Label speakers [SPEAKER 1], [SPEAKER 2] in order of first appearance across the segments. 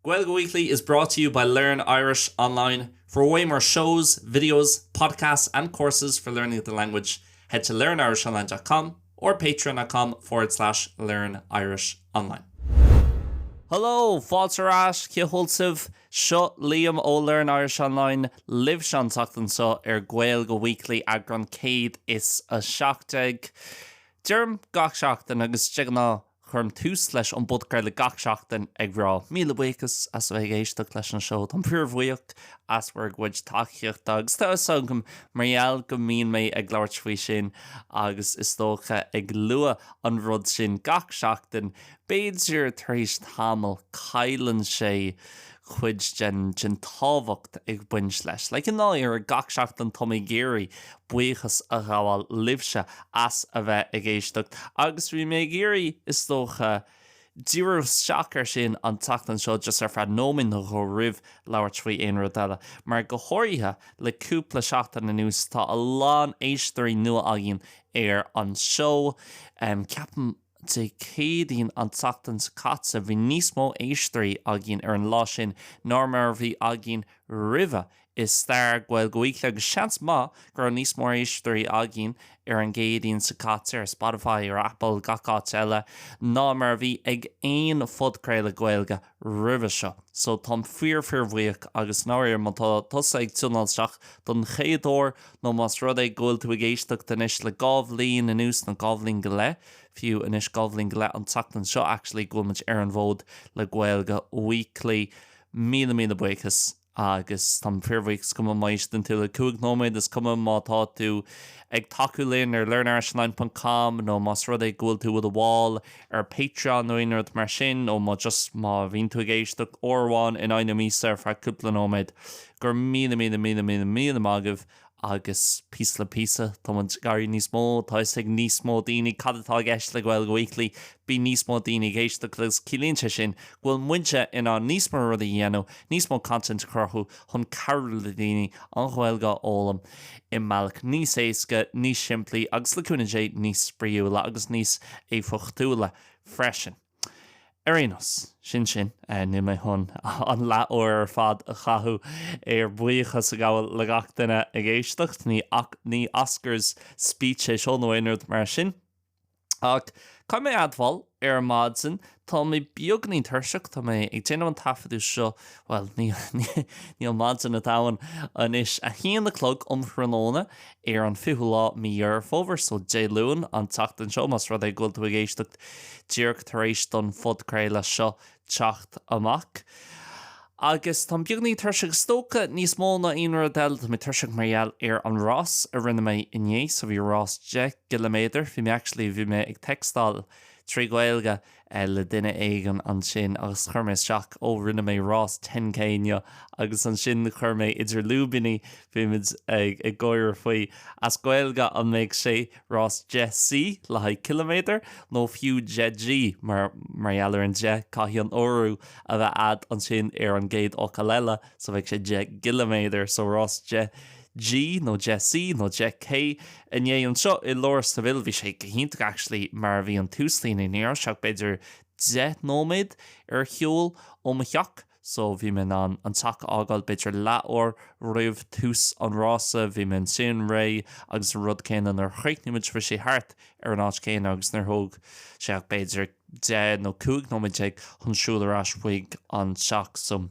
[SPEAKER 1] Gaeilge Weekly is brought to you by Learn Irish Online. For way more shows, videos, podcasts and courses for learning the language, head to learnirishonline dot com or patreon.com forward slash learnirishonline. Hello! Fáilte ar ais, cén chaoi a bhfuil sibh? Seo Liam ó Learn Irish Online libhse an tseachtain seo ar Gaeilge Weekly, eagrán 117. Deirim gach seachtain, agus de ghnáth, Cuirim tús leis an bpodchraoladh gach seachtain ag rá míle buíochas as a bheith ag éisteacht leis an seó. Táim fíorbhuíoch as bhur gcuid tacaíochta agus tá a fhios agam mar gheall go mbíonn mé ag labhairt faoi sin agus is dócha ag lua an rud sin gach seachtain, b'fhéidir tar éis tamaill cailleann sé cuid den tábhacht ag baint leis. Like i ndáiríre gach seachtain táim ag iarraidh buíochas a ghabháil libhse as a bheith ag éisteacht agus bhí mé ag iarraidh is dócha díriú isteach ar sin an tseachtain seo just ar feadh nóiméad nó dhó roimh labhairt faoi aon rud eile mar go háirithe le cúpla seachtain anuas tá a lán éisteoirí nua againn ar an seó ceapaim Dé Céadaoin an tseachtain seo caite bhí níos mó éisteoirí againn ar an lá sin ná mar a bhí againn roimhe i stair Gaeilge Weekly agus seans maith go raibh níos mó éisteoirí againn ar an gCéadaoin seo caite ar Spotify, ar Apple, gach áit eile, ná mar a bhí ag aon phodchraoladh Gaeilge roimhe seo, so táim fíor-fhíorbhuíoch agus i ndáiríre má tá tusa ag tiúnáil isteach don chéad uair nó más rud é go bhfuil tú ag éisteacht anois le dhá bhliain anuas nó dhá bhliain go leith fiú, anois dhá bhliain go leith an tseachtain seo actually go bhfuil muid ar an bhfód le Gaeilge Weekly. Míle míle buíochas. agus táim fíorbhuíoch, is cuma má éisteann tú le cúig nóiméad, is cuma má tá tú ag tacú linn ar learnirishonline.com nó más rud é go bhfuil tú i do bhall ar Patreon nó aon rud mar sin, nó má just, má bhíonn tú ag éisteacht uair amháin in aghaidh na míosa ar feadh cúpla nóiméad, go raibh míle míle míle míle míle maith agaibh. Agus píosa le píosa, tá muid ag éirí níos mó, tá a fhios ag níos mó daoine cad atá i gceist le Gaeilge Weekly, bíonn níos mó daoine ag éisteacht agus ciallaíonn sé sin go bhfuil muide in ann níos mó rudaí a dhéanamh, níos mó content a chruthú chun cabhrú le daoine an Ghaeilge a fhoghlaim i mbealach níos éasca, níos simplí agus, le cúnamh Dé, níos spraíúla agus níos éifeachtúla freisin. Ar aon nós, sin sin. Níl mé chun an leath-uair ar fad a chaitheamh ar bhuíochas a ghabháil le gach duine ag éisteacht, ní Oscars speech é seo nó aon rud mar sin. Ach caithfidh mé a admháil, ar maidin, tá mé beagainín tuirseach, tá mé ag déanamh an taifeadadh seo, bhuel, níl maidin ann a thuilleadh anois, a haon a chlog um thráthnóna ar an 20ú lá de mhí Dheireadh Fómhair, so Dé Luain an tseachtain seo, más rud é go bhfuil tú ag éisteacht díreach tar éis don phodchraoladh seo teacht amach. Agus tá mé beagáinín tuirseach, is dócha, níos mó ná aon rud eile, tá mé tuirseach mar gheall ar an rás a rinne mé inné, so bhí rás deich gciliméadar, bhí mé actually, bhí mé ag textáil trí Ghaeilge, le duine éigin ansin agus chuir mé isteach, oh rinne mé rás 10K inné agus ansin chuir mé idir lúibíní, bhí muid ag gáire faoi, as Gaeilge, an mbeadh sé rás 10C le haghaidh ciliméadar nó fiú 10G mar gheall ar an deich caithfidh an urú a bheith a'd ansin ar an gcéad fhocal eile so bheadh sé 10 gciliméadar so rás 10 G, nó Deich C, nó Deich K, inné anseo i lár Seville, bhí sé go hiontach actually mar bhí an túslíne, ní raibh sé ach b'fhéidir deich nóiméad ar shiúl ó mo theach so bhí mé in ann an teach a fhágáil b'fhéidir leathuair roimh tús an rása, bhí mé ansin réidh agus an rud céanna nuair a chríochnaigh muid bhí sé thart ar an áit chéanna agus níor thóg sé ach b'fhéidir deich nó cúig nóiméad déag chun siúl ar ais chuig an teach so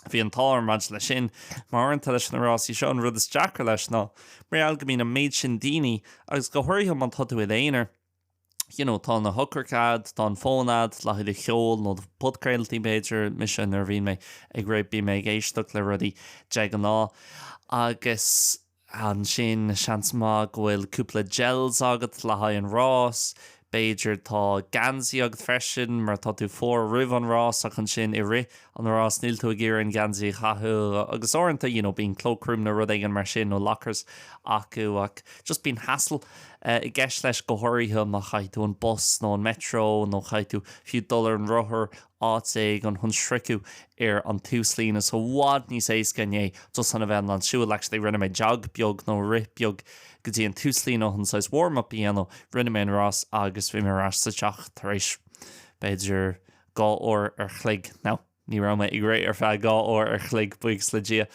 [SPEAKER 1] Bhí an t-ádh orm maidir leis sin, mar uaireanta leis na rásaí seo an rud is deacra leis ná mar gheall go mbíonn an méid sin daoine agus go háirithe má tá tú i d'aonair you know tá na heochracha a'd, tá an fón a'd le haghaidh cheoil nó podchraoltaí b'fhéidir, mise nuair a bhíonn mé ag rith bíonn mé ag éisteacht le rudaí de ghnáth agus. Ansin, seans maith go bhfuil cúpla gels agat le haghaidh an rás. B'fhéidir tá geansaí agat freisin, mar tá tú fuar roimh an rás, ach ansin i rith an rás níl tú ag iarraidh an geansaí a chaitheamh. Agus uaireanta, you know, bíonn cloakroom nó rud éigin mar sin, nó lockers acu, ach just bíonn hassle i gceist leis, go háirithe má chaitheann tú an bus nó an metro, nó chaitheann tú fiú dul ar an rothar. áit éigin chun sroicheadh ar an túslíne so i bhfad níos éasca inné, just a bheith in ann siúl, actually rinne mé jog beag nó rith beag go dtí an túslíne chun saghas warm up a dhéanamh, rinne mé an rás agus bhí mé ar ais sa teach tar éis b'fhéidir dhá uair an chloig, now ní raibh mé ag rith ar feadh dhá uair an chloig, buíochas le Dia,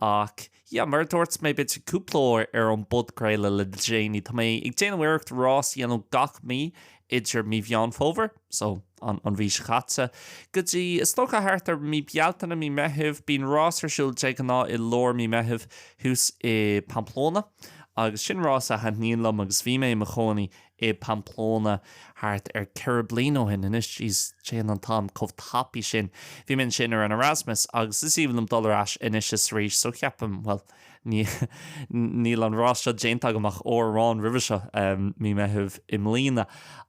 [SPEAKER 1] ach. Yeah, mar a dúirt mé duit cúpla uair ar an bpodchraoladh le déanaí, tá mé ag déanamh iarracht rás a dhéanamh gach mí idir mí Mheán Fómhair, so, an mhí seo caite, go dtí, is dócha, thart ar mí Bealtaine, mí Meithimh. Bíonn rás ar siúl de ghnáth i lár mí Meithimh thuas i Pamplona agus sin rás a thaitníonn liom agus bhí mé i mo chónaí i Pamplona thart ar ceithre bliana ó shin. Anois, jeez, téann an t-am chomh tapaidh sin. Bhí mé ansin ar an Erasmus agus is aoibhinn liom dul ar ais anois is arís, so cheapaim, bhuel, níl an rás seo déanta agam ach uair amháin roimhe seo, mí Meitheamh i mbliana,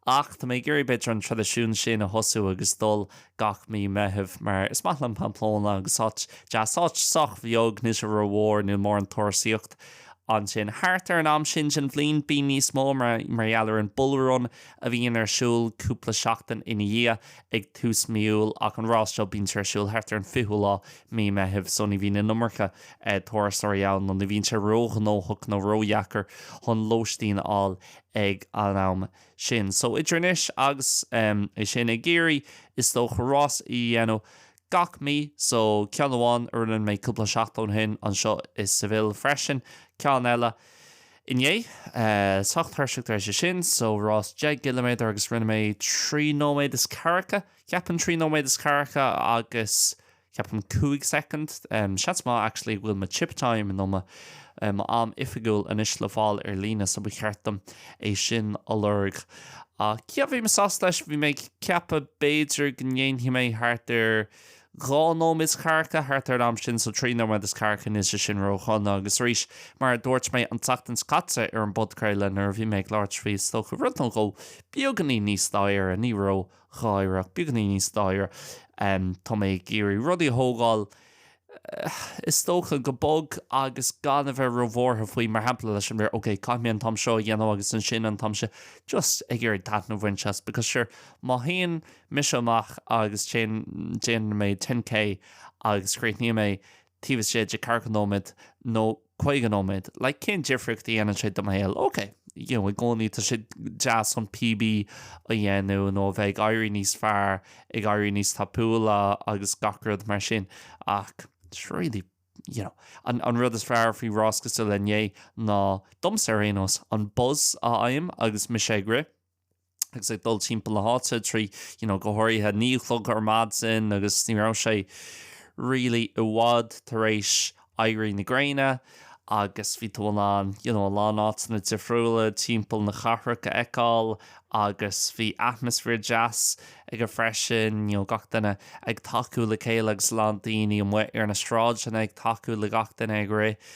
[SPEAKER 1] ach tá mé ag iarraidh b'fhéidir an traidisiún sin a thosú agus dul gach mí Meitheamh mar is maith liom Pamplona agus áit deas, áit sách bheag, níl sé ró-mhór, níl mórán turasaíocht. Ansin, thart ar an am sin den bhliain, bíonn níos mó mar gheall ar an Bull Run a bhíonn ar siúl cúpla seachtain ina dhiaidh, ag tús mí Iúil, ach an rás seo, bíonn sé ar siúl thart ar an 20ú lá de mhí Meithimh, so ní bhíonn an iomarca turasóirí ann, nó ní bhíonn sé ró-ghnóthach nó ró-dheacair chun lóistín a fháil ag an am sin. So, idir anois agus é sin ag iarraidh, is dócha, rás a dhéanamh. gach mí, so ceann amháin a rinne mé cúpla seachtain ó shin anseo i Seville freisin, ceann eile inné. Sách tuirseach tar éis é sin, so rás deich gciliméadar agus rinne mé trí nóiméad is ceathracha, cheapfainn, trí nóiméad is ceathracha agus cheapfainn cúig soicind. Seans maith actually go bhfuil mo chip time nó mo mo am oifigiúil anois le fáil ar líne so ba cheart dom é sin a lorg. Ach yeah, bhí mé sásta leis, bhí mé ag ceapadh b'fhéidir go ndéanfaidh mé thart ar dhá nóiméad is ceathracha thart ar an am sin, so trí nóiméad is ceathracha níl sé sin ródhona agus arís mar a dúirt mé an tseachtain seo caite ar an bpodchraoladh nuair a bhí mé ag labhairt faoi is dócha rud nó dhó beagainín níos dáirire, ní ródháirire ach beagainín níos dáirire, tá mé ag iarraidh rudaí a thógáil is dócha, go bog agus gan a bheith róbhuartha faoi, mar shampla, le is a bheith ar, ok, caithfidh mé an t-am seo a dhéanamh agus ansin an t-am sin, just ag iarraidh taitneamh a bhaint as, because sure, má théann mise amach agus téann, déanann mé ten K agus críochnaíonn mé taobh istigh de ceathracha nóiméad nó. caoga nóiméad. Like, cén difríocht a dhéanann sé do mo shaol? OK, you know, i gcónaí tá sé deas an PB a dhéanamh nó a bheith ag éirí níos fearr, ag éirí níos tapúla agus gach rud mar sin ach it's really, you know, an, an rud is fearr faoi rás cosúil le inné ná, domsa ar aon nós, an buzz a fhaighim agus mise ag rith. agus ag dul timpeall na háite, trí you know go háirithe a naoi a chlog ar maidin agus ní raibh sé really i bhfad tar éis éirí na gréine agus bhí tú in ann you know a lán áiteanna difriúla timpeall na cathrach a fheiceáil agus bhí atmaisféar deas acu freisin, you know gach duine ag tacú le chéile agus a lán daoine amuigh ar na sráideanna ag tacú le gach duine ag rith.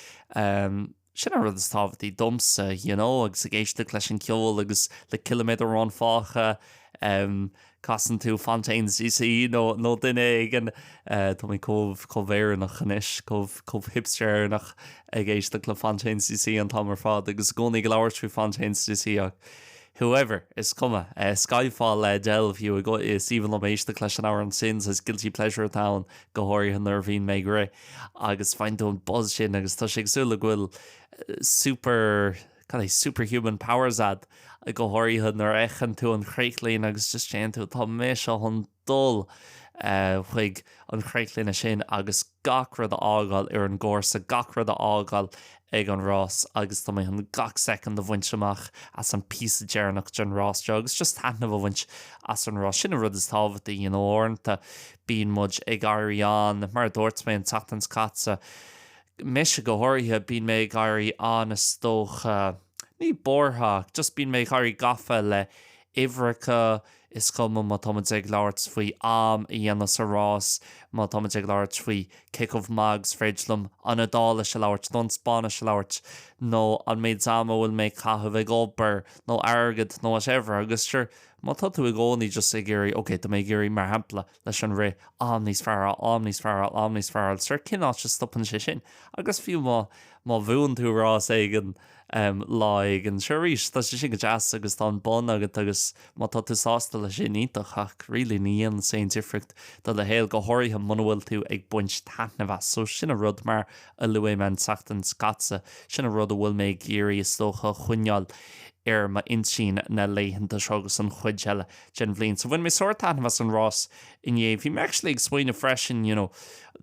[SPEAKER 1] Sin an rud is tábhachtaí domsa, you know, agus ag éisteacht leis an gceol agus le ciliméadar amháin fágtha, casann tú Fontaines DC nó nó duine éigin, tá mé chomh chomh Éireannach anois, chomh chomh hipster Éireannach ag éisteacht le Fontaines DC an t-am ar fad agus i gcónaí ag labhairt faoi Fontaines DC ach whoever, is cuma. Skyfall le Adele, fiú. Is aoibhinn liom éisteacht leis an amhrán sin, saghas guilty pleasure atá ann, go háirithe nuair a bhíonn mé ag rith agus faigheann tú an buzz sin agus tá sé cosúil le go bhfuil super, cad é, superhuman powers agat, go háirithe nuair a fheiceann tú an chríochlíne agus just téann tú, tá mise chun. dul chuig an chríochlíne sin agus gach rud a fhágáil ar an gcúrsa, gach rud a fhágáil ag an rás agus tá mé chun gach soicind a bhaint amach as an bpíosa deireanach den rás seo agus just taitneamh a bhaint as an rás. Sin an rud is tábhachtaí, you know. Uaireanta bíonn muid ag éirí an, mar a dúirt mé an tseachtain seo caite, mise go háirithe, bíonn mé ag éirí an, is dócha, ní buartha ach just bíonn mé ag éirí gafa le uimhreacha, is cuma má tá muid ag labhairt faoi am a dhéanamh sa rás, má tá muid ag labhairt faoi cé chomh maith agus is féidir liom an Iodáilis a labhairt nó an Spáinnis a labhairt nó an méid ama a bhfuil mé ag caitheamh ag obair nó airgead nó whatever agus sure má tá tú i gcónaí just ag iarraidh, ok tá mé ag iarraidh mar shampla. leis an rith, am níos fearr, am níos fearr, am níos fearr, agus ar cén áit a stopann sé sin? Agus fiú má, má bhuann tú rás éigin em lá éigin, sure arís tá sé sin go deas agus tá an bonn agat agus má tá tú sásta leis sin, iontach ach really ní dhéanann sé aon difríocht do do shaol, go háirithe muna bhfuil tú ag baint taitneamh as. So sin an rud, mar a luaigh mé an tseachtain seo caite, sin an rud a bhfuil mé ag iarraidh is dócha a choinneáil ar m'intinn na laethanta seo agus an chuid eile. den bhliain. So bhain mé sórt taitneamh as an rás inné. Bhí mé actually ag smaoineamh freisin, you know,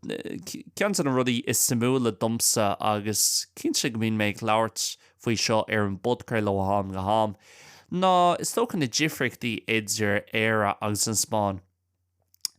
[SPEAKER 1] ceann de na rudaí is suimiúla domsa, agus cinnte go mbíonn mé ag labhairt faoi seo ar an bpodchraoladh ó ham go ham, ná is dócha na difríochtaí idir Éire agus an Spáinn.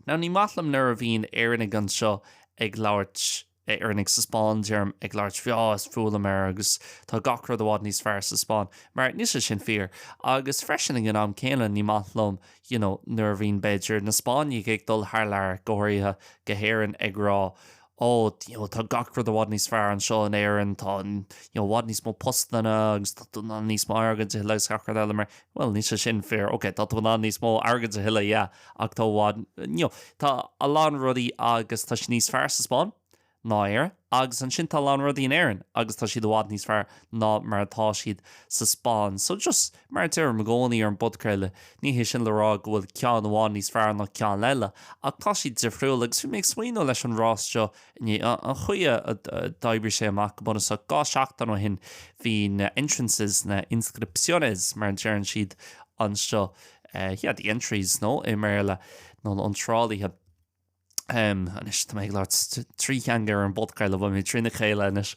[SPEAKER 1] Now ní maith liom nuair a bhíonn Éireannaigh anseo ag labhairt. Éireannaigh sa Spáinn, deirim, ag labhairt faoi is fuath liom Éire agus tá gach rud i bhfad níos fearr sa Spáinn, mar níl sé sin fíor, agus freisin ag an am céanna ní maith liom, you know, nuair a bhíonn, b'fhéidir, na Spáinnigh ag dul thar lear, go háirithe go hÉirinn, ag rá, ó, you know, tá gach rud i bhfad níos fearr anseo in Éirinn, tá, you know, i bhfad níos mó postanna agus tá tú in ann níos mó airgid a thuilleamh agus gach rud eile, mar, bhuel, níl sé sin fíor, ok, tá tú in ann níos mó airgid a thuilleamh, yeah. Ach tá i bhfad, you know, tá a lán rudaí agus tá siad níos fearr sa Spáinn ná Éire agus ansin tá a lán rudaí in Éirinn agus tá siad i bhfad níos fearr ná mar atá siad sa Spáinn. So just mar a deirim i gcónaí ar an bpodchraoladh, ní hé sin le rá go bhfuil ceann i bhfad níos fearr ná ceann eile ach tá siad difriúil agus bhí mé ag smaoineamh leis an rás seo inné, an chaoi a d'oibrigh sé amach go bunúsach dhá seachtain ó shin bhí na entrances, na inscripciones mar a deireann siad anseo, Yeah, the entries, nó, i mBéarla, nó na iontrálaithe. Um, anois, tá mé ag labhairt trí theanga ar an bpodchraoladh, beidh mé trína chéile anois.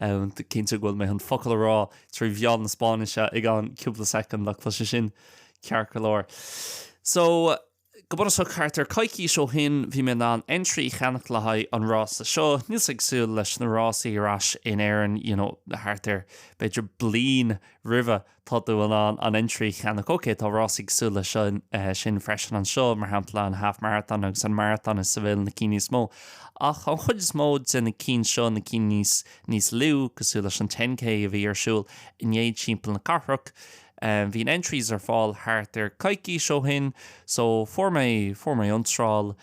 [SPEAKER 1] Um, cinnte go bhfuil mé chun focal a rá trí mheán na Spáinnise i gceann cúpla second, ach tá sé sin ceart go leor. So, go bunúsach thart ar coicís ó shin, bhí mé in ann entry a cheannach le haghaidh an rása seo. Níl sé cosúil leis na rásaí ar ais in Éirinn, you know, thart ar b'fhéidir bliain roimhe. Tá tú in ann an entry a cheannach. Ok, tá rásaí cosúil le sin freisin anseo, mar shampla an Half Marathon agus an Marathon, is iad na cinn níos mó. Ach an chuid is mó de na cinn seo, na cinn níos níos lú, cosúil leis an Ten K a bhí ar siúl inné timpeall na cathrach, bhí na entries ar fáil thart ar coicís ó shin. So fuair mé, fuair mé iontráil,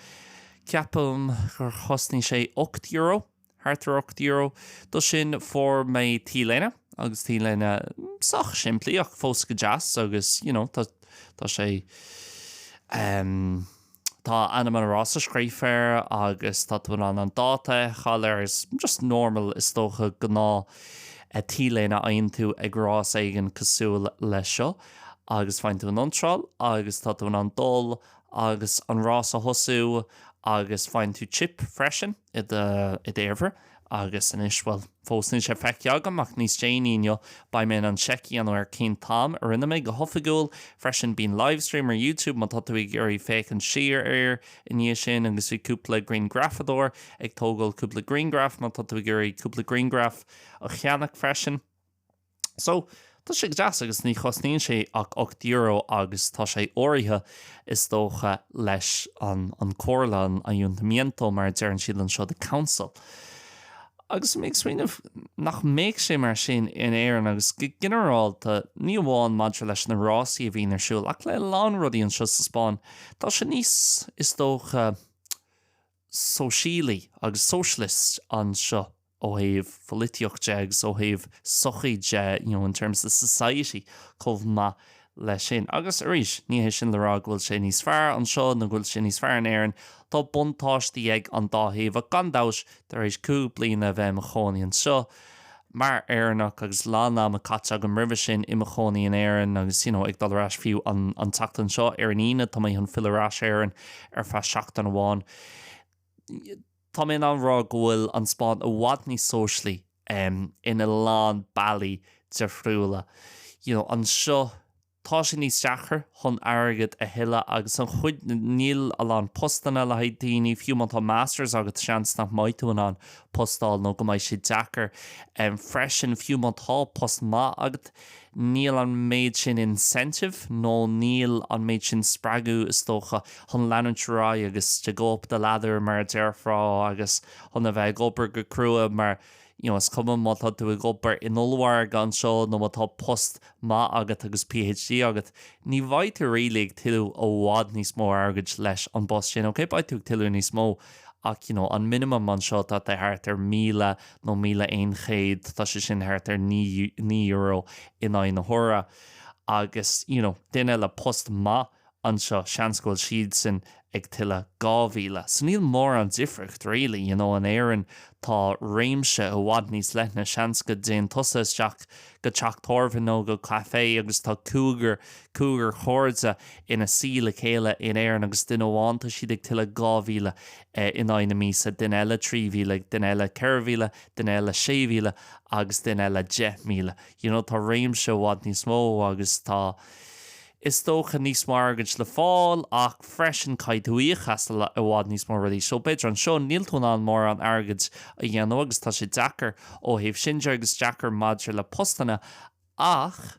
[SPEAKER 1] ceapaim gur chosnaigh sé ocht euro. thart ar ocht euro. Do sin fuair mé t-léine agus t-léine sách simplí ach fós go deas agus you know tá tá sé ehm tá ainm an rása scríofa air agus tá tú in ann an dáta a fheiceáil air is just normal is dócha gnáth t-léine a fhaigheann tú ag rás éigin cosúil leis seo agus faigheann tú an iontráil agus tá tú in ann dul agus an rás a thosú agus faigheann tú chip freisin i do, i d'fhéarfar agus anois, bhuel, fós níl sé feicthe agam ach níos déanaí inniu beidh mé in ann check a dhéanamh ar cén t-am a rinne mé go hoifigiúil, freisin bíonn livestream ar YouTube má tá tú ag iarraidh féachaint siar air i ndiaidh sin agus bhí cúpla grianghrafadóir ag tógáil cúpla grianghraf má tá tú ag iarraidh cúpla grianghraf a cheannach freisin. So, tá sé go deas agus ní chosnaíonn sé ach ocht euro agus tá sé eagraithe, is dócha, leis an comhairle, an ayuntamiento mar a deireann siad anseo, the council. Agus mé ag smaoineamh, nach mbeidh sé mar sin in Éirinn agus go ginearálta, ní amháin maidir leis na rásaí a bhíonn ar siúl ach le a lán rudaí anseo sa Spáinn, tá sé níos, is dócha, sóisialaí agus socialist anseo ó thaobh polaitíocht de agus ó thaobh sochaí de, you know, in terms of society chomh maith leis sin. Agus arís, ní hé sin le rá go bhfuil sé níos fearr anseo nó go bhfuil sé níos fearr in Éirinn, tá buntáistí ag an dá thaobh ach gan dabht ar bith, tar éis cúig bliana a bheith i mo chónaí anseo, Mar Éireannach, agus a lán ama caite agam roimhe sin i mo chónaí in Éirinn agus you know ag dul ar ais fiú an an tseachtain seo ar an Aoine tá mé chun filleadh ar ais go hÉirinn ar feadh seachtain amháin, tá mé in ann rá go bhfuil an Spáinn i bhfad níos sóisialaí em in a lán bealaí difriúla. You know anseo. Tá sé níos deacra chun airgead a thuilleadh agus an chuid, níl a lán postanna le haghaidh daoine, fiú má tá Masters agat seans nach mbeidh tú in ann post a fháil nó go mbeidh sé deacair freisin, fiú má tá post maith agat níl an méid sin incentive nó níl an méid sin spreagadh is dócha chun leanúint ar aghaidh agus to go up the ladder mar a déarfá agus chun a bheith ag obair go crua mar you know, is cuma má tá tú ag obair in ollmhargadh anseo nó má tá post maith agat agus PhD agat, ní bheidh tú really ag tuilleamh i bhfad níos mó airgid leis an bpost sin, ok, beidh tú ag tuilleamh níos mó ach you know, an minimum anseo tá sé thart ar míle nó míle aon chéad, tá sé sin thart ar naoi, naoi euro in aghaidh na huaire agus you know, duine le post maith, anseo, seans go bhfuil siadsan ag tuilleamh 2000. So níl mórán difriocht really, you know, in Éirinn tá réimse i bhfad níos leithne, seans go dtéann tusa isteach go teach tábhairne nó go caifé agus tá cúigear, cúigear chairde ina suí le chéile in Éirinn agus duine amháin tá siad ag tuilleamh 2000 in aghaidh na míosa, duine eile 3000, duine eile 4000, duine eile 6000 agus duine eile 10,000. You know, tá réimse i bhfad níos mó agus tá. is dócha, níos mó airgid le fáil ach freisin caithfidh tú íoc as i bhfad níos mó rudaí so b'fhéidir anseo níl tú in ann mórán airgid a dhéanamh agus tá sé deacair ó thaobh sin de agus deacair maidir le postanna ach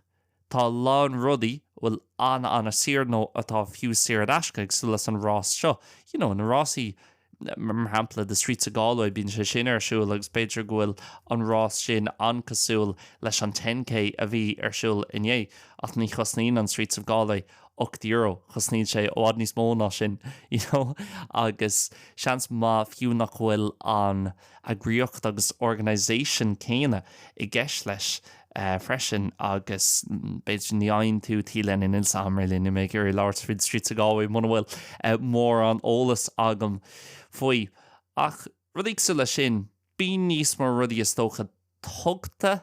[SPEAKER 1] tá a lán rudaí bhfuil an-an-saor nó atá fiú saor in aisce cosúil leis an rás seo you know na rásaí mar shampla The Streets of Galway, bíonn sé sin ar siúl agus b'fhéidir go bhfuil an rás sin an-cosúil leis an ten K a bhí ar siúl inné, ach ní chosnaíonn an Streets of Galway ocht euro, cosnaíonn sé i bhfad níos mó ná sin, you know, agus seans maith fiú nach bhfuil an. eagraíocht agus organisation céanna i gceist leis freisin agus b'fhéidir ní fhaigheann tú T-léine, níl sé ar m'eolas, níl mé ag iarraidh labhairt faoi The Streets of Galway muna bhfuil mórán eolas agam faoi ach rudaí cosúil leis sin bíonn níos mó rudaí is dócha tugtha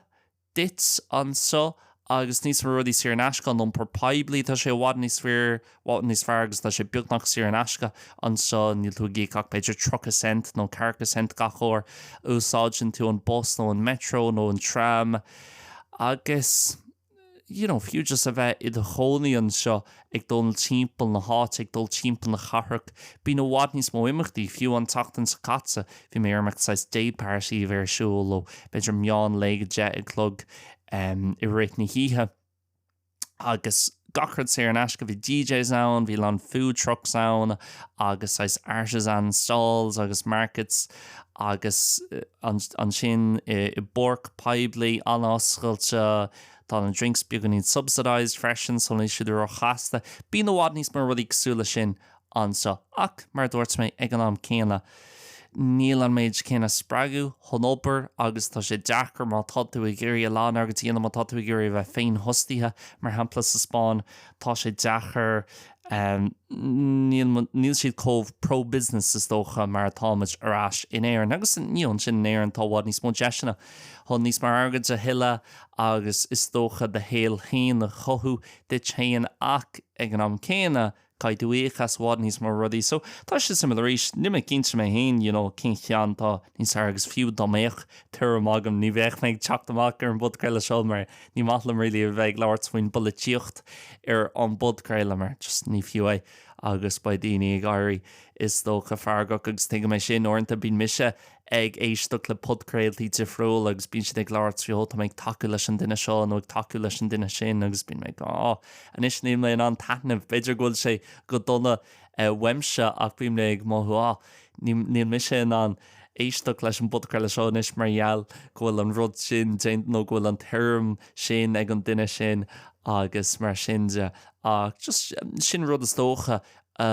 [SPEAKER 1] duit anseo agus níos mó rudaí saor in aisce, an iompar poiblí, tá sé i bhfad níos fearr agus tá sé beagnach saor in aisce anseo, níl tú ag íoc ach b'fhéidir tríocha cent nó ceathracha cent gach uair a úsáideann tú an bus nó an Metro nó an tram agus, you know, fiú just a bheith i do chónaí anseo, ag dul timpeall na háite, ag dul timpeall na cathrach. Bíonn i bhfad níos mó imeachtaí. Fiú an tseachtain seo caite, bhí mé ar imeacht saghas day party a bhí ar siúl ó b'fhéidir meán lae go deich a chlog i rith na hoíche agus gach rud saor in aisce. Bhí DJs ann, bhí a lán food trucks ann agus saghas artisan stalls agus markets agus ansin i bpáirc poiblí an-oscailte, Tá na drinks beagáinín subsidised freisin, so níl siad ró-chostasach. Bíonn i bhfad níos mó rudaí cosúil leis sin anseo, ach mar a dúirt mé, ag an am céanna, níl an méid céanna spreagadh chun obair agus tá sé deacair má tá tú ag iarraidh a lán oibre a dhéanamh, má tá tú ag iarraidh a bheith féinfhostaithe, mar shampla, sa Spáinn, tá sé deacair, níl, níl siad chomh pro-business is dócha mar atá muid ar ais in Éirinn. Agus, you know, ansin in Éirinn tá i bhfad níos mó deiseanna chun níos mó airgid a thuilleadh agus is dócha do shaol féin a chothú duit féin ach ag an am céanna caithfidh tú íoc as i bhfad níos mó rudaí so tá sé suimiúil arís, níl mé cinnte mé féin you know cén ceann atá níos fearr agus fiú dá mbeadh tuairim agam ní bheadh mé ag teacht amach ar an bpodchraoladh seo mar ní maith liom really a bheith ag labhairt faoin bpolaitíocht ar an bpodchraoladh mar just ní fiú é agus beidh daoine ag éirí is dócha feargach agus tuigim é sin uaireanta bíonn mise ag éisteacht le podchraoltaí difriúla agus bíonn siad ag labhairt faoi oh tá mé ag tacú leis an duine seo nó ag tacú leis an duine sin agus bíonn mé ag oh anois níl mé in ann taitneamh, b'fhéidir go bhfuil sé go dona uaimse ach bíonn mé ag mothú ah níl mise in ann éisteacht leis an bpodchraoladh seo anois mar gheall go bhfuil an rud sin déanta nó go bhfuil an tuairim sin ag an duine sin agus mar sin ach just sin rud is dócha a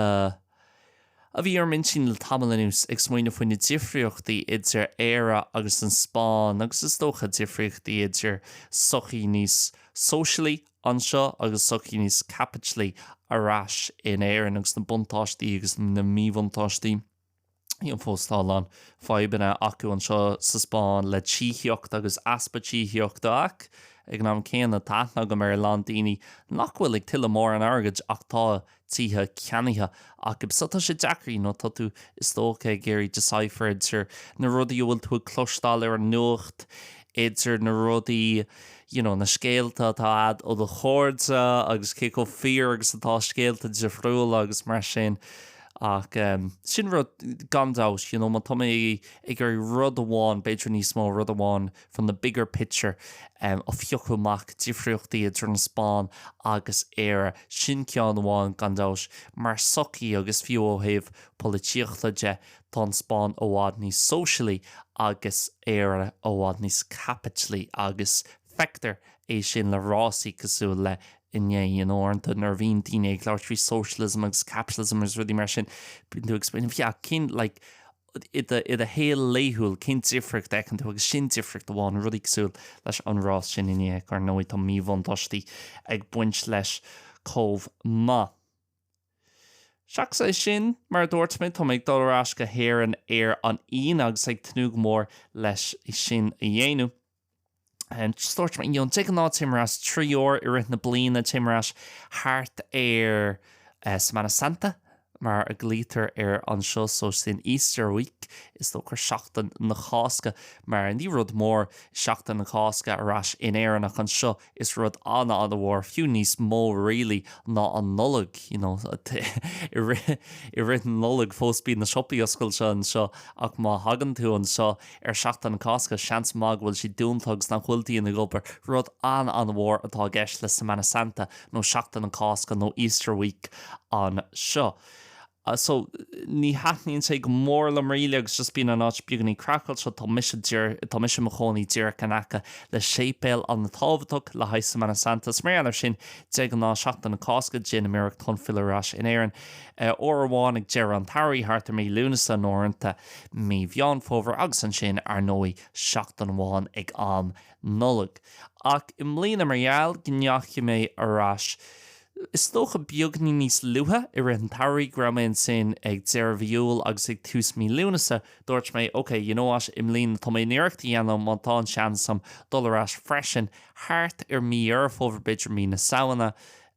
[SPEAKER 1] a bhí ar m'intinn le tamall anuas, ag smaoineamh faoi na difríochtaí idir Éire agus an Spáinn agus is dócha difríochtaí idir sochaí níos sóisialaí anseo agus sochaí níos caipitlí ar ais in Éirinn agus na buntáistí agus na míbhuntáistí. Fiú fós, tá a lán fadhbanna acu anseo sa Spáinn le tithíocht agus easpa tithíochta ach ag an am céanna tá aithne agam ar a lán daoine nach bhfuil ag tuilleamh mórán airgid ach tá tithe ceannaithe acu. So tá sé deacair, nó tá tú, is dócha, ag iarraidh decipher idir na rudaí a bhfuil tú ag cloisteáil ar an nuacht, idir na rudaí, you know, na scéalta atá a'd ó do chairde agus cé chomh fíor agus atá scéalta difriúla agus mar sin. Ach ehm, sin rud, gan dabht, you know, má tá mé ag iarraidh rud amháin, b'fhéidir níos mó, rud amháin from the bigger picture a phiocadh amach difríochtaí idir an Spáinn agus Éire, sin ceann amháin, gan dabht, mar sochaí agus fiú ó thaobh polaitíochta de, tá an Spáinn i bhfad níos sóisialaí agus Éire i bhfad níos caipitlí agus feictear é sin le rásaí cosúil le inné. Uaireanta nuair a bhíonn daoine ag labhairt faoi socialism agus capitalism agus rudaí mar sin, bíonn tú ag 'explain', yeah, cén, like, i do shaol laethúil, cén difríocht a fheiceann tú agus sin difríocht amháin, rudaí cosúil leis an rás sin inné. Ar ndóigh, tá míbhuntáistí ag baint leis chomh maith. Seachas é sin, mar a dúirt mé, tá mé ag dul ar ais go hÉirinn ar an Aoine agus ag tnúth go mór leis sin a dhéanamh. Dúirt mé, you know, de ghnáth téim ar ais trí uair i rith na bliana, téim ar ais thart ar Semana Santa mar a ghlaoitear air anseo, so sin Easter week, is dócha, Seachtain na Cásca, mar ní rud mór Seachtain na Cásca ar ais in Éirinn ach anseo Is rud an-an-mhór, fiú níos mó really ná an Nollaig, you know, i rith, i rith na Nollag fós bíonn na siopaí oscailte anseo ach má thagann tú anseo ar Seachtain na Cásca seans maith go bhfuil siad dúnta agus nach bhfuil daoine ag obair. Rud an-an-mhór atá i gceist le Semana Santa nó Seachtain na Cásca nó Easter Week anseo. Uh, so, ní thaitníonn sé go mór liom really agus just bíonn an áit beagainín craiceáilte, tá mise dir, tá mise i mo chónaí díreach in aice le séipéal an-tábhachtach le haghaidh Semana Santa, is mar gheall air sin de ghnáth Seachtain na Cásca déanaim iarracht chun filleadh ar ais in Éirinn, uair amháin ag deireadh an tsamhraidh, thart ar mí Lúnasa nó uaireanta, mí Mheán Fómhair agus ansin, ar ndóigh, seachtain amháin ag an Nollaig. Ach i mbliana mar gheall go ndeachaigh mé ar ais, Is dócha beagáinín níos luaithe i rith an tsamhraidh, go raibh mé ansin ag deireadh mhí Iúil agus ag tús mí Lúnasa, dúirt mé, OK, you know what, i mbliana tá mé chun iarracht a dhéanamh, má tá an seans a'm, dul ar ais freisin. Thart ar mí Dheireadh Fómhair b'fhéidir, mí na Samhna,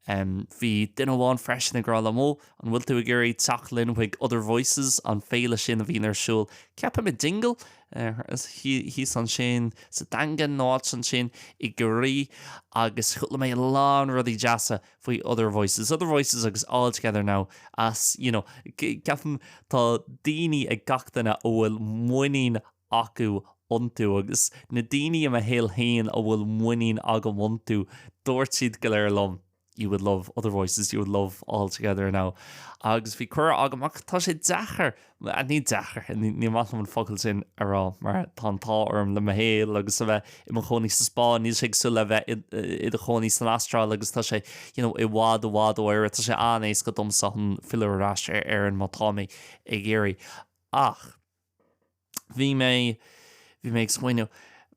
[SPEAKER 1] em, bhí duine amháin freisin ag rá liom, oh, an bhfuil tú ag iarraidh teacht linn chuig Other Voices, an féile sin a bhíonn ar siúl, ceapaim i Dingle? thíos ansin sa Daingean nó áit ansin i gCiarraí agus chuala mé a lán rudaí deasa faoi Other Voices, Other Voices agus All Together Now is, you know, ceapaim tá daoine ag gach duine a bhfuil muinín acu iontu agus na daoine i mo shaol féin a bhfuil muinín agam iontu dúirt siad go léir liom. you would love other voices, you would love All Together Now agus bhí cuireadh agam ach tá sé deacair, ní deacair, ní maith liom an focal sin a rá mar tá an t-ádh orm le mo shaol agus a bheith i mo chónaí sa Spáinn, níl sé cosúil le bheith i do chónaí san Astráil agus tá sé you know i bhfad i bhfad ó Éire, tá sé an-éasca domsa chun filleadh ar ais ar Éirinn má tá mé ag iarraidh ach. Bhí mé, bhí mé ag smaoineamh,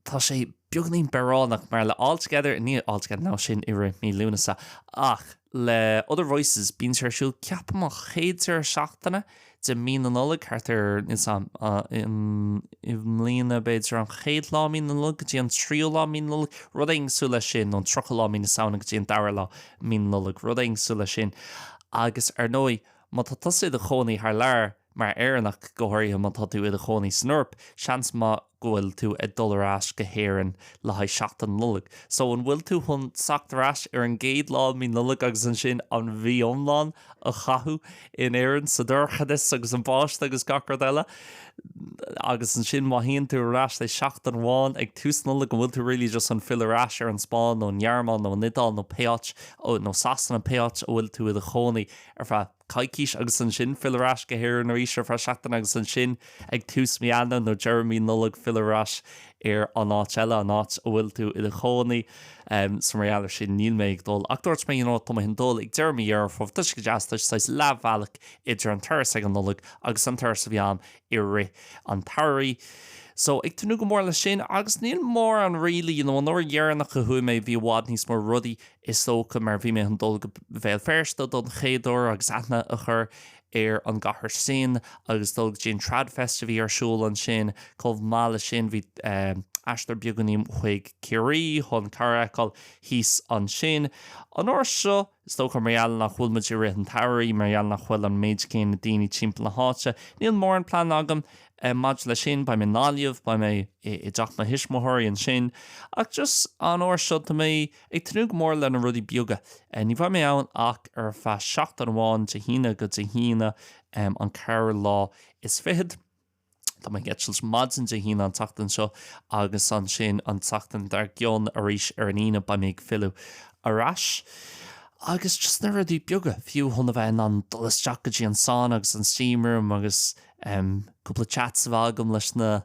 [SPEAKER 1] tá sé beagainín bearránach mar le All Together, ní All Together, no, sin i rith mí Lúnasa, ach le Other Voices, bíonn sé ar siúl, ceapaim, an chéad deireadh seachtaine de mí na Nollag, thart ar, níl 's agam, i mbliana, b'fhéidir an chéad lá mí na Nollag go dtí an tríú lá mí na Nollag, rud éigin cosúil leis sin, nó an tríochú lá mí na Samhna go dtí an dara lá mí na Nollag, rud éigin cosúil leis sin, agus ar ndóigh, má tá tusa i do chónaí thar lear, Mar Éireannach, go háirithe má tá tú i do chónaí san Eoraip, seans maith go bhfuil tú ag dul ar ais go hÉirinn le haghaidh seachtain Nollag. So, an bhfuil tú chun teacht ar ais ar an gcéad lá i mí Nollag agus ansin an mhí iomlán a chaitheamh in Éirinn, sa dorchadas agus an bháisteach agus gach rud eile? Agus ansin, má théann tú ar ais, say, seachtain amháin ag tús Nollag, an bhfuil tú really just chun filleadh ar ais ar an Spáinn nó an Ghearmáin nó an Iodáil nó pé áit, nó Sasana, pé áit a bhfuil tú i do chónaí ar feadh coicís agus ansin filleadh ar ais go hÉirinn arís ar feadh seachtaine agus ansin ag tús mí Eanáir nó deireadh mí Nollag filleadh ar ais ar an áit eile, an áit a bhfuil tú i do chónaí. So mar gheall ar sin níl mé ag dul. Ach dúirt mé you know tá mé chun dul ag deireadh mí Dheireadh Fómhair tá sé go deas, tá sé saghas leathbhealach idir an turas ag an Nollaig agus an turas a bhí ann i rith an tsamhraidh. So ag tnúth go mór leis sin agus níl mórán really, you know an uair dheireanach a chuaigh mé bhí i bhfad níos mó rudaí is dócha, mar bhí mé chun dul go Béal Feirste don chéad uair agus aithne a chur ar an gcathair sin agus dul go dtí an TradFest a bhí ar siúl ansin. Chomh maith leis sin, bhí aistear beagáinín chuig Ciarraí chun cara a fheiceáil thíos ansin. An uair seo, is dócha mar gheall nach bhfuil muid i rith an tsamhraidh, mar gheall nach bhfuil an méid céanna daoine timpeall na háite, níl mórán plean agam maidir leis sin, beidh mé i nGaillimh, beidh mé i dteach mo thuismitheoirí ansin, ach just an uair seo, tá mé. Ag tnúth go mór le na rudaí beaga. Ní bheidh mé ann ach ar feadh seachtain amháin, Dé hAoine go Dé hAoine an ceathrú lá is fichead. Tá mé ag eitilt maidin Dé hAoine an tseachtain seo agus ansin an tseachtain dar gcionn arís ar an Aoine beidh mé ag filleadh ar ais. Agus just na rudaí beaga, fiú chun a bheith in ann dul isteach go dtí an sauna agus an steam room agus em cúpla chats a bheith agam leis na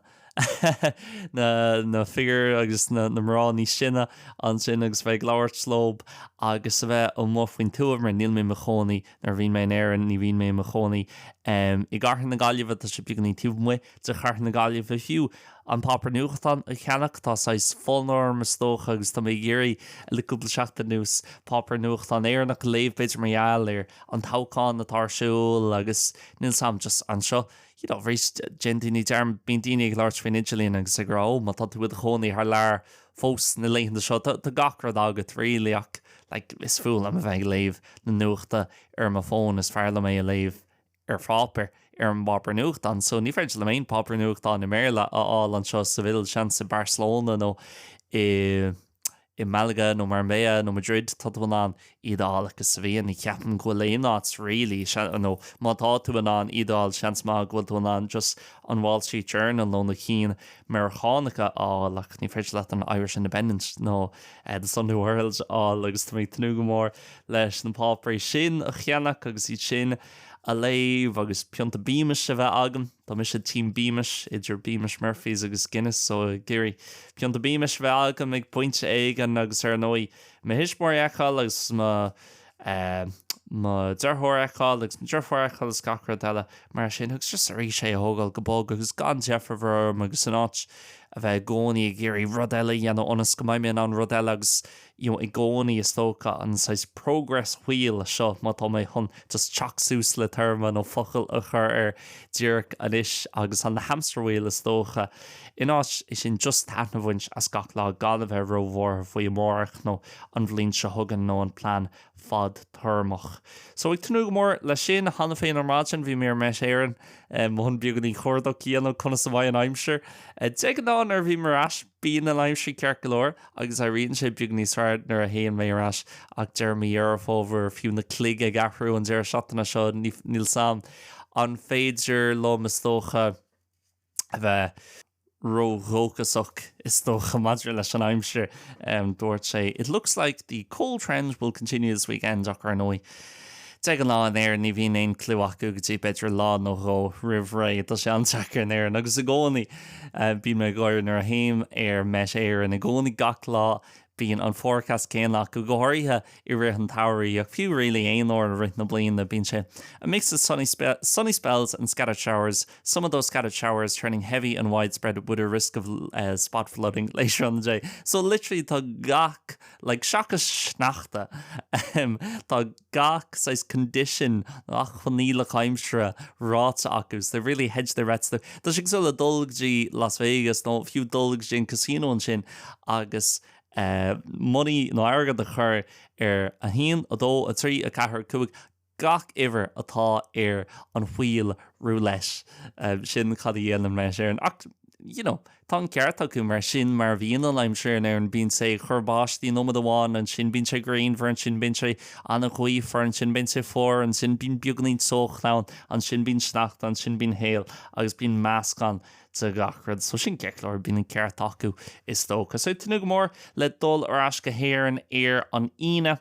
[SPEAKER 1] na figiúir agus na mná níos sine ansin agus a bheith ag labhairt leo agus a bheith amuigh faoin tuath mar níl mé i mo chónaí, nuair a bhíonn mé in Éirinn ní bhíonn mé i mo chónaí, i gcathair na Gaillimhe, tá sé beagainín taobh amuigh de chathair na Gaillimhe fiú, an páipéar nuachtán a cheannach, tá saghas fonn orm is dócha agus tá mé ag iarraidh le cúpla seachtain anuas páipéar nuachtán Éireannach a léamh b'fhéidir mar gheall ar an toghchán atá ar siúl agus níl sé agam just anseo. you know, arís, déanann daoine dearmad, bíonn daoine ag labhairt faoin idirlíon agus ag rá, oh, má tá tú i do chónaí thar lear fós na laethanta seo, tá gach rud agat, really, ach, like, is fuath liom a bheith ag léamh na nuachta ar mo fón, is fearr liom é a léamh ar pháipéar, ar an bpáipéar nuachtán, so ní féidir liom aon pháipéar nuachtáin i mBéarla a fháil anseo, i Sevilla, seans, i Barcelona nó i. i Malaga nó Marbella nó Madrid, tá tú in ann iad a fháil ach sa Vín. Ní cheapaim go bhfuil aon áit really, seans, nó má tá tú in ann iad a fháil, seans maith go bhfuil tú in ann just an Wall Street Journal nó na cinn Meiriceánacha a fháil ach ní féidir leat an Irish Independent nó The Sunday World a fháil agus tá mé ag tnúth go mór leis na páipéirí sin a cheannach agus iad sin a léamh agus pionta Beamish a bheith agam. Tá mise Team Beamish, idir Beamish Murphys agus Guinness so ag iarraidh pionta Beamish a bheith agam ag pointe éigin agus ar ndóigh mo thuismitheoirí a fheiceáil agus mo eh mo dheartháir a fheiceáil agus mo dheirfiúr a fheiceáil is gach rud eile mar sin agus just arís é a thógáil go bog agus gan deifir mhór orm agus in áit a bheith i gcónaí ag iarraidh rud eile a dhéanamh ionas go mbeidh mé in ann rud eile agus you know i gcónaí is dócha an saghas progress wheel seo má tá mé chun just teacht suas le téarma nó focal a chur air díreach anois agus an hamster wheel is dócha in áit sin just taitneamh a bhaint as gach lá gan a bheith róbhuartha faoi amárach nó an bhliain seo chugainn nó an plean fadtéarmach so ag tnúth go mór leis sin cheana féin ar maidin bhí mé ar Met Éireann chun beagainín cuardach a dhéanamh conas a bheidh an aimsir de ghnáth nuair a bhím ar ais Bíonn an aimsir ceart go leor agus éiríonn sé beagáinín níos fearr nuair a théann mé ar ais ach deireadh mí Dheireadh Fómhair, fiú na cloig ag athrú an deireadh seachtaine seo, níl 's a'm an féidir liom is dócha a bheith ró-dhóchasach is dócha maidir leis an aimsir. Dúirt sé, It looks like the cold trend will continue this weekend ach ar ndóigh, Déanta na fírinne in Éirinn, ní bhíonn aon chlue acu go dtí b'fhéidir lá nó dhó roimh ré. Tá sé an-deacair in Éirinn agus i gcónaí bíonn mé ag gáire nuair a théim ar Met Éireann, i gcónaí gach lá bíonn an forecast céanna acu, go háirithe i rith an tsamhraidh ach fiú really aon uair i rith na bliana bíonn sé a mix of sunny spells and scattered showers, some of those scattered showers turning heavy and widespread with a risk of spot flooding later on the day. So literally tá gach. Like, seachas sneachta, ahem, tá gach saghas condition, gach coinníoll aimsire ráite acu, so they've really hedged their bets there. Tá sé cosúil le dul go dtí Las Vegas nó fiú dul go dtí an casino ansin agus eh money nó airgead a chur ar a haon, a dó, a trí, a ceathair, a cúig, gach uimhir atá ar an wheel roulette, sin cad a dhéanann Met Éireann, ach you know tá an ceart acu mar sin mar a bhíonn an aimsir in Éirinn, bíonn sé ag cur báistí nóiméad amháin, ansin bíonn sé grianmhar, ansin bíonn sé an-ghaofar, ansin bíonn sé fuar, ansin bíonn beagáinín teocht ann, ansin bíonn sneachta, ansin bíonn hail agus bíonn meascán de gach rud, so sin an chúis go, bíonn an ceart acu is dócha. So tnúth go mór le dul ar ais go hÉirinn ar an Aoine.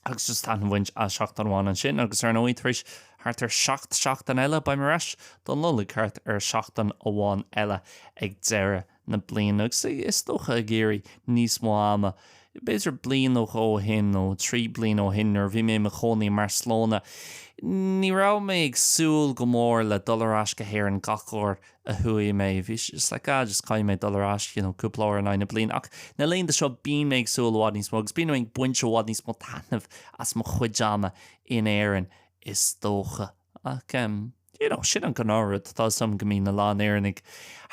[SPEAKER 1] Agus just taitneamh a bhaint as seachtain amháin ansin agus ar ndóigh tar éis thart ar seacht seachtain eile beidh mé ar ais don Nollaig thart ar seachtain amháin eile ag deireadh na bliana agus is dócha ag iarraidh níos mó ama. B'fhéidir bliain nó dhó ó shin nó trí bliana ó shin nuair a bhí mé i mo chónaí i mBarcelona, ní raibh mé ag súil go mór le dul ar ais go hÉirinn gach uair a a chuaigh mé, bhí sé just like just caithfidh mé dul ar ais you know cúpla uair in aghaidh na bliana ach na laethanta seo bíonn mé ag súil i bhfad níos mó agus bíonn mé ag baint i bhfad níos mó taitneamh as mo chuid ama in Éirinn is dócha ach em you know sin an gnáth rud tá 'fhios a'm go mbíonn a lán Éireannaigh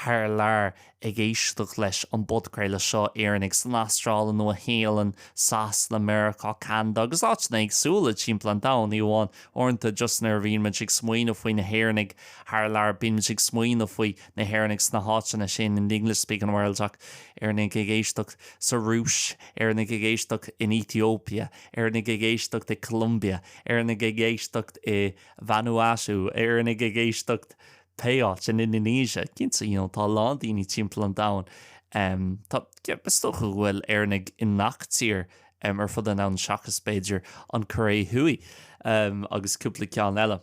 [SPEAKER 1] thar lear ag éisteacht leis an bpodchraoladh seo, Éireannaigh san Astráil, an Nua-Shéalainn, Sasana, Meiriceá, Ceanada agus áiteanna éagsúla timpeall an domhain, ní amháin Uaireanta, just nuair a bhíonn muid ag smaoineamh faoi na hÉireannaigh thar lear, bíonn muid ag smaoineamh faoi na hÉireannaigh sna háiteanna sin, san English-speaking world, ach Éireannaigh ag éisteacht sa Rúis, Éireannaigh ag éisteacht in Ethiopia, Éireannaigh ag éisteacht i Colombia, Éireannaigh ag éisteacht i Vanuatu, Éireannaigh ag éisteacht pé áit, in Indonesia, cinnte, you know, tá a lán daoine timpeall an domhain, tá, is dócha go bhfuil Éireannaigh i ngach tír ar fud an domhain seachas, b'fhéidir, an Choiré Thuaidh agus cúpla ceann eile.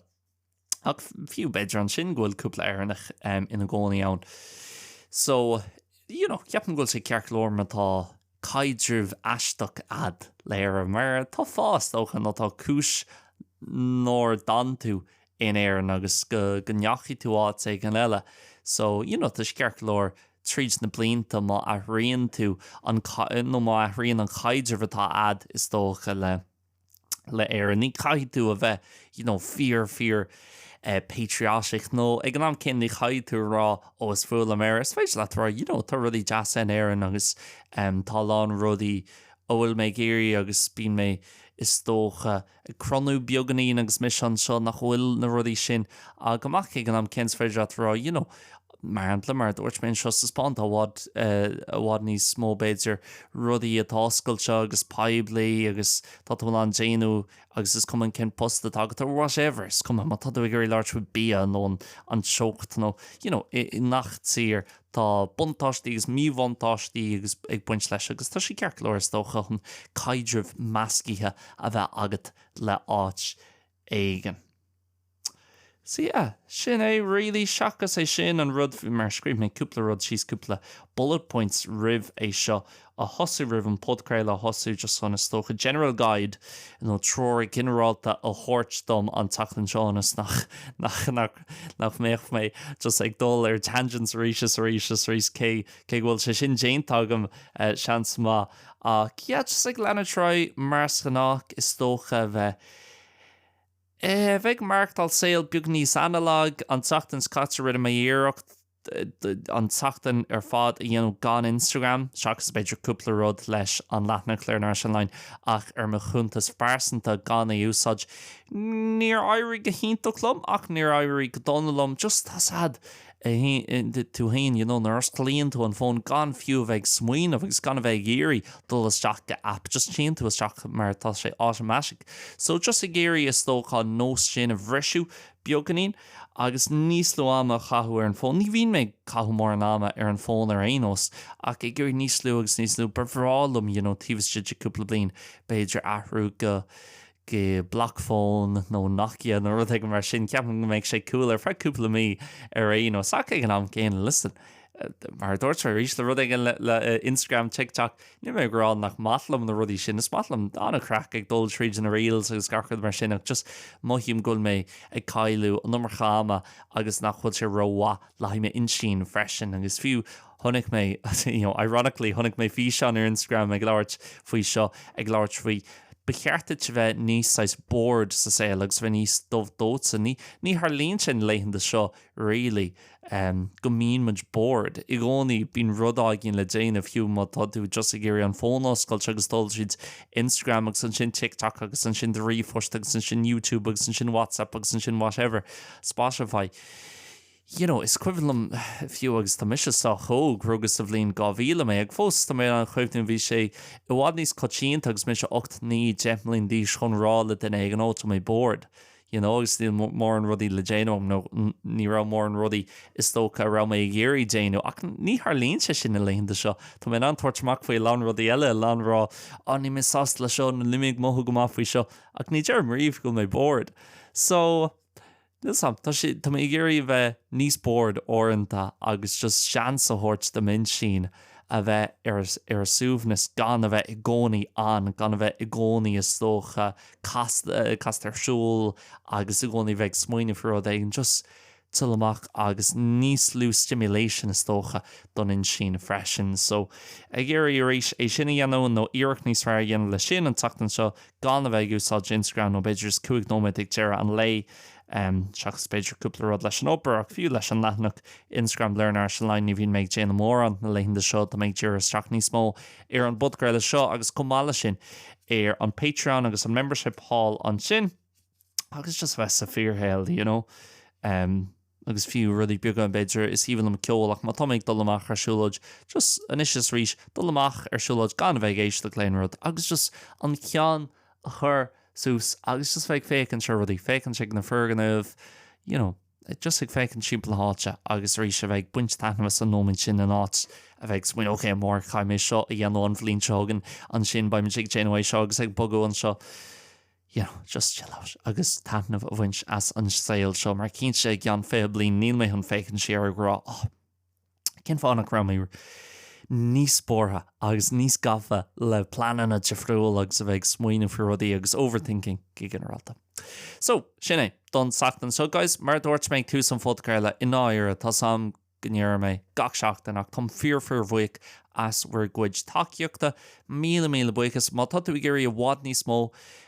[SPEAKER 1] Ach fiú b'fhéidir ansin go bhfuil cúpla Éireannach ina gcónaí ann. So, you know, ceapaim go bhfuil sé ceart go leor má tá caidreamh aisteach a'd le hÉire mar tá fáth, is dócha, nó tá cúis nár fhan tú in Éirinn agus go ndeachaigh tú áit éigin eile so you know tá sé ceart go leor tríd na blianta má athraíonn tú an nó má athraíonn an chaidreamh atá a'd is dócha le le Éirinn ní caithfidh tú a bheith you know fíor fíor eh patriotic nó ag an am céanna ní chaithfidh tú a rá ó is fuath liom Éire is féidir leat a rá you know tá rudaí deasa in Éirinn agus em tá a lán rudaí go bhfuil mé ag iarraidh agus bíonn mé is dócha ag cronú beagainín agus mise anseo nach bhfuil na rudaí sin agam ach ag an am céanna is féidir leat a rá you know mar shampla mar a dúirt mé anseo sa Spáinn tá i bhfad i bhfad níos mó b'fhéidir rudaí atá oscailte agus poiblí agus tá tú in ann déanamh agus is cuma cén post atá agat or whatever is cuma má tá tú ag iarraidh labhairt faoi bhia nó an teocht nó you know i ngach tír Tá buntáistí agus míbhuntáistí agus ag baint leis agus tá sé ceart go leor, is dócha, chun caidreamh meascaithe a bheith agat le áit éigin. So yeah, sin é really. Seachas é sin, an rud, mar scríobh mé cúpla rud síos, cúpla bullet points roimh é seo a thosú roimh an podchraoladh a thosú just chun is dócha general guide nó treoir ghinearálta a thabhairt dom an tseachtain seo ionas nach nach mbeadh mé just ag dul ar tangents arís is arís is arís cé cé go bhfuil sé sin déanta agam seans maith ach yeah just ag leanacht ar aghaidh mar is gnách is dócha a bheith eh a bheith ag maireachtáil saol beag níos analog an tseachtain seo caite rinne mé iarracht an tseachtain ar fad a dhéanamh gan Instagram, seachas b'fhéidir cúpla rud leis an leathanach Learn Irish Online, ach ar mo chuntas phearsanta gan é a úsáid. Níor éirigh go hiontach liom, ach níor éirigh go dona liom, just tá a fhios agat tú féin you know nuair a osclaíonn tú an fón gan fiú a bheith ag smaoineamh agus gan a bheith ag iarraidh dul isteach go app, just téann tú isteach mar tá sé automatic. So just ag iarraidh is dócha an nós sin a bhriseadh beagainín. agus níos lú ama a chaitheamh ar an bhfón. Ní bhíonn mé ag caitheamh mórán ama ar an bhfón ar aon nós, ach ag iarraidh níos lú agus níos lú. Ba bhreá liom, you know, taobh istigh de cúpla bliain, b'fhéidir, athrú go, go block phone nó Nokia nó rud éigin mar sin. Ceapaim go mbeadh sé cool ar feadh cúpla mí ar aon nós, ach ag an am gcéanna, listen, mar a dúirt mé arís, le rud éigin le Instagram, TikTok, níl mé ag rá nach maith liom na rudaí sin, is maith liom, tá an-chraic ag dul tríd na reels agus gach rud mar sin ach just mothaím go bhfuil mé ag cailleadh an iomarca ama agus nach bhfuil sé rómhaith le haghaidh m'intinn freisin agus fiú chonaic mé, you know, ironically chonaic mé físeán ar Instagram ag labhairt faoi seo, ag labhairt faoi ba cheart duit a bheith níos saghas bored sa saol agus a bheith níos dubh dóite, ní tharlaíonn sin na laethanta seo really. go mbíonn muid bored. I gcónaí, bíonn rud éigin le déanamh, fiú má tá tú just ag iarraidh an fón a oscailt agus dul tríd Instagram agus ansin TikTok agus ansin do ríomhphost agus ansin YouTube agus ansin WhatsApp agus ansin whatever, Spotify. You know, is cuimhin liom, fiú agus tá mise sách óg, rugadh sa bhliain 2000 mé, ach fós tá mé in ann cuimhneamh, bhí sé i bhfad níos coitianta agus mise ocht, naoi, deich mbliain d'aois chun rá le duine éigin, oh tá mé bored. you know agus níl mórán rudaí le déanamh agam nó ní raibh mórán rudaí is dócha a raibh mé ag iarraidh déanamh ach ní tharlaíonn sé sin na laethanta seo, tá mé in ann tabhairt amach faoi a lán rudaí eile, a lán rá oh níl mé sásta le seo nó níl mé ag mothú go maith faoi seo ach ní deirim riamh go bhfuil mé bored so níl a fhios agam tá sé tá mé ag iarraidh a bheith níos bored uaireanta agus just seans a thabhairt do m'intinn a bheith ar ar a suaimhneas gan a bheith i gcónaí on gan a bheith i gcónaí is dócha casta, casta ar siúl agus i gcónaí bheith ag smaoineamh faoi rud éigin, just chill amach agus níos lú stimulation is dócha don intinn freisin. So, ag iarraidh arís é sin a dhéanamh nó iarracht níos fearr a dhéanamh le sin an tseachtain seo gan a bheith ag úsáid Instagram nó b'fhéidir just cúig nóiméad ag deireadh an lae, seachas b'fhéidir cúpla rud leis an obair, ach fiú leis an leathanach Instagram Learn Irish Online ní bhíonn mé ag déanamh mórán na laethanta seo, tá mé ag díriú isteach níos mó ar an bpodcraoladh seo agus chomh maith leis sin ar an Patreon agus an membership thall ansin agus just bheith sa bhfíorshaol you know agus fiú rudaí beaga b'fhéidir, is aoibhinn liom ceol ach má tá mé ag dul amach ar siúlóid just anois is arís dul amach ar siúlóid gan a bheith ag éisteacht le haon rud agus just an ceann a chur suas agus just bheith ag féachaint ar rudaí, féachaint ar na foirgnimh, you know, just ag féachaint timpeall na háite agus arís a bheith ag baint taitneamh as an nóiméint sin in áit a bheith ag smaoineamh ok amárach caithfidh mé seo a dhéanamh, an bhliain seo chugainn, ansin beidh mise ag déanamh seo agus ag bogadh anseo. You know, just chill out agus taitneamh a bhaint as an saol seo mar cinnte i gceann fiche bliain níl mé chun féachaint siar ag rá oh, Cén fáth nach raibh mé níos buartha agus níos gafa le pleananna difriúla agus a bheith ag smaoineamh faoi rudaí agus overthinking go ginearálta? So, sin é don tseachtain seo, guys. Mar a dúirt mé ag tús an phodchraoladh, i ndáiríre, tá 's a'm go ndeirim é gach seachtain ach táim fíor fíorbhuíoch as bhur gcuid tacaíochta. Míle míle buíochas. Má tá tú ag iarraidh i bhfad níos mó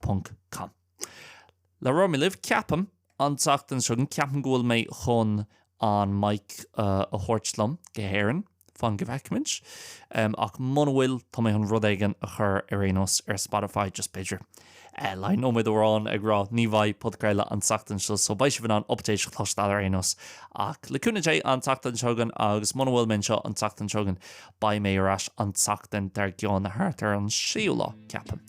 [SPEAKER 1] Ponc Com. Labhróidh mé libh, ceapaim, an tseachtain seo chugainn, ceapaim go bhfuil mé chun an mic a thabhairt liom go hÉirinn, fan go bhfeicfimid. Ach muna bhfuil, tá mé chun rud éigin a chur ar aon nós ar Spotify, just b'fhéidir like nóiméad amháin ag rá ní bheidh podchraoladh an tseachtain seo, so beidh sibh in ann updates a chloisteáil ar aon nós. Ach le cúnamh Dé, an tseachtain seo chugainn, agus muna bhfuil mé anseo an tseachtain seo chugainn, beidh mé ar ais an tseachtain dár gcionn, thart ar an séú lá, ceapaim.